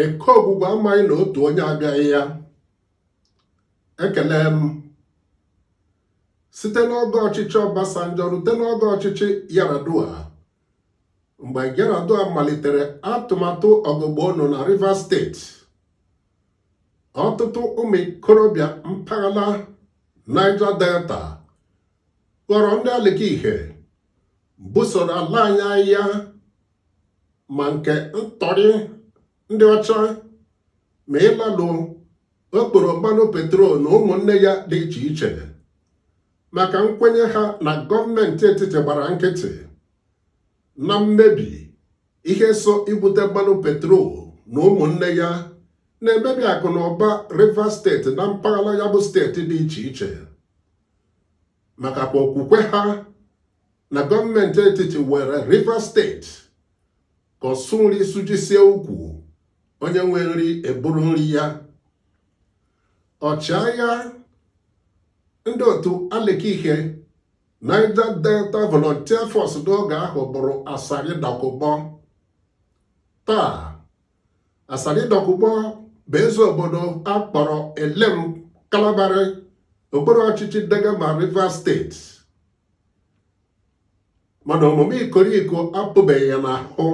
eke Ogwugwu amaghị na otu onye abịaghị ya ekele m site n'oge ọchịchị Obasanjo rute n'oge ọchịchị Yar'Adua mgbe Yar'Adua malitere atụmatụ ọgụgụ ọnụ na Rivers steeti ọtụtụ ụmụ ikorobịa mpaghara Niger Delta ghọrọ ndị alikihe busoro ala anyị agha ma nke ntọrị ndị ọcha ma ịlalụ okporo mmanụ petrol na ụmụnne ya dị iche iche maka nkwenye ha na gọọmenti etiti gbara nkịtị na mmebi ihe so ibute mmanụ petrol na ụmụnne ya na-emebi akụ na ụba Rivers steeti na mpaghara ya bụ steeti dị iche iche maka kwa okwukwe ha na gọọmenti etiti were Rivers steeti ka ọsụ nri sụjisie ukwu onye nwe nri eburu nri ya ọchịagha ndị otu alikihe Niger Delta Volunteer Force n'oge ahụ bụrụ Asari Dokubo taa Asari Dokubo bụ eze obodo a kpọrọ Elem Kalabari okpuru ọchịchị Degama Rivers Steeti mana omume ikoriko apụbeghị ya n'ahụ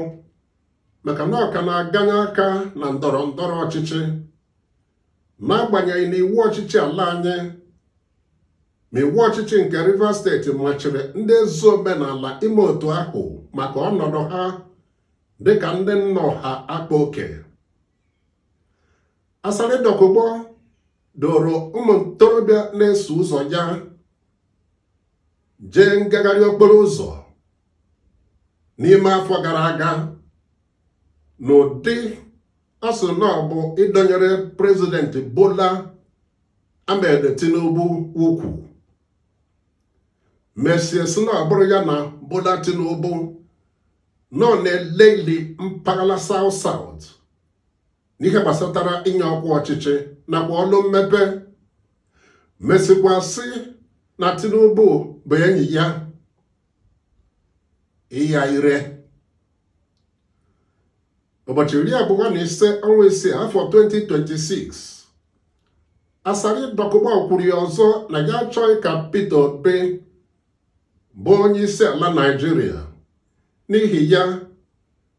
maka na ọ ka na-aganye aka na ndọrọ ndọrọ ọchịchị n'agbanyeghị na iwu ọchịchị ala anyị ma iwu ọchịchị nke Rivers steeti machiri ndị eze omenala ime otu ahụ maka ọnọdụ ha dịka ndị nna ọha akpa oke Asari Dokubo duuru ụmụ ntorobịa na-eso ụzọ ya jee ngagharị okporo ụzọ n'ime afọ gara aga n'ụdị a sị na ọ bụ ịdọnyere prezident Bola Ahmed Tinubu ukwu mesịa sị na ọ bụrụ ya na Bola Tinubu nọ na-eleli mpaghara South South n'ihe gbasatara inye ọkwa ọchịchị nakwa ọlụ mmepe mesịkwa sị na Tinubu bụ enyi ya ịya ire ụbọchị iri abụọ na ise ọnwa isii afọ 2026 Asari Dokubo kwuru ya ọzọ na ya achọghị ka Peter Obi bụ onye isi ala Naịjirịa n'ihi ya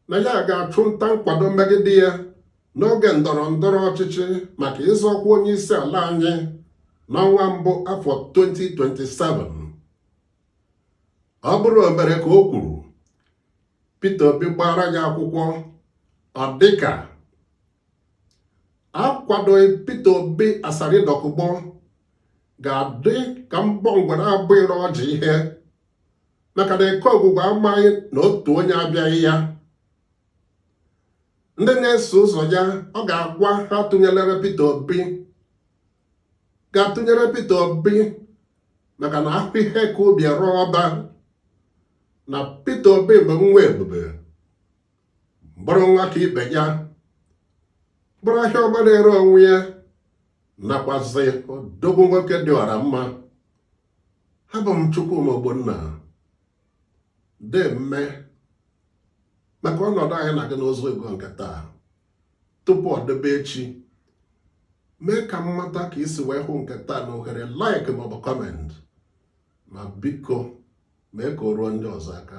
na ya ga-achụ nta nkwado megide ya n'oge ndọrọ ndọrọ ọchịchị maka ịzọ ọkwa onye isi ala anyị n'ọnwa mbụ afọ 2027 ọ bụrụ o mere ka o kwuru Peter Obi gbara ya akwụkwọ ọ dịka akwadoghị Peter Obi Asari Dokubo ga-adị ka mbọ ngwere abụghịrị ọjị ihe maka na Eke Ọgwụgwụ amaghị na otu onye abịaghị ya ndị na-eso ụzọ ya ọ ga-agwa ha atụnyelere Peter Obi ga-atụnyere Peter Obi maka na a hụ ihe ka ubi e ree ọba na Peter Obi bụ nwa ebube bụrụ nwa ka ibe ya bụrụ ahịa ọma na-ere onwe ya nakwazị odogwu nwoke dị ọra mma abụ m Chukwuma Ogbonna deeme maka ọnọdụ anyị na gị n'ụzọ ego nke taa tupu ọ debe echi mee ka m mata ka i si wee hụ nke taa na ohere like maọbụ comment ma biko mee ka o ruo ndị ọzọ aka